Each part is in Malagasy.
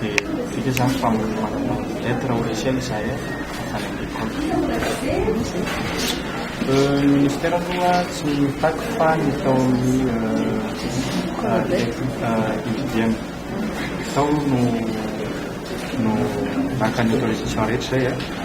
Dia vita izany fa manana lettre au logiciel izahay avy any amin'ny compte. Ny ministera aloha tsy mitaky fa ny tao amin'ny IGDM tao no naka ny autorisation rehetra izay.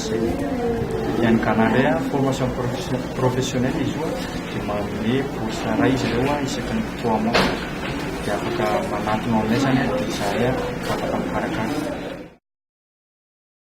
Ny an'ny Ghana indray an, formation professionnelle izy io dia manome bourse iray izy ireo an, isaky ny trois mois dia afaka manantona ao aminay izany an, dia izahay an afaka mikarakara.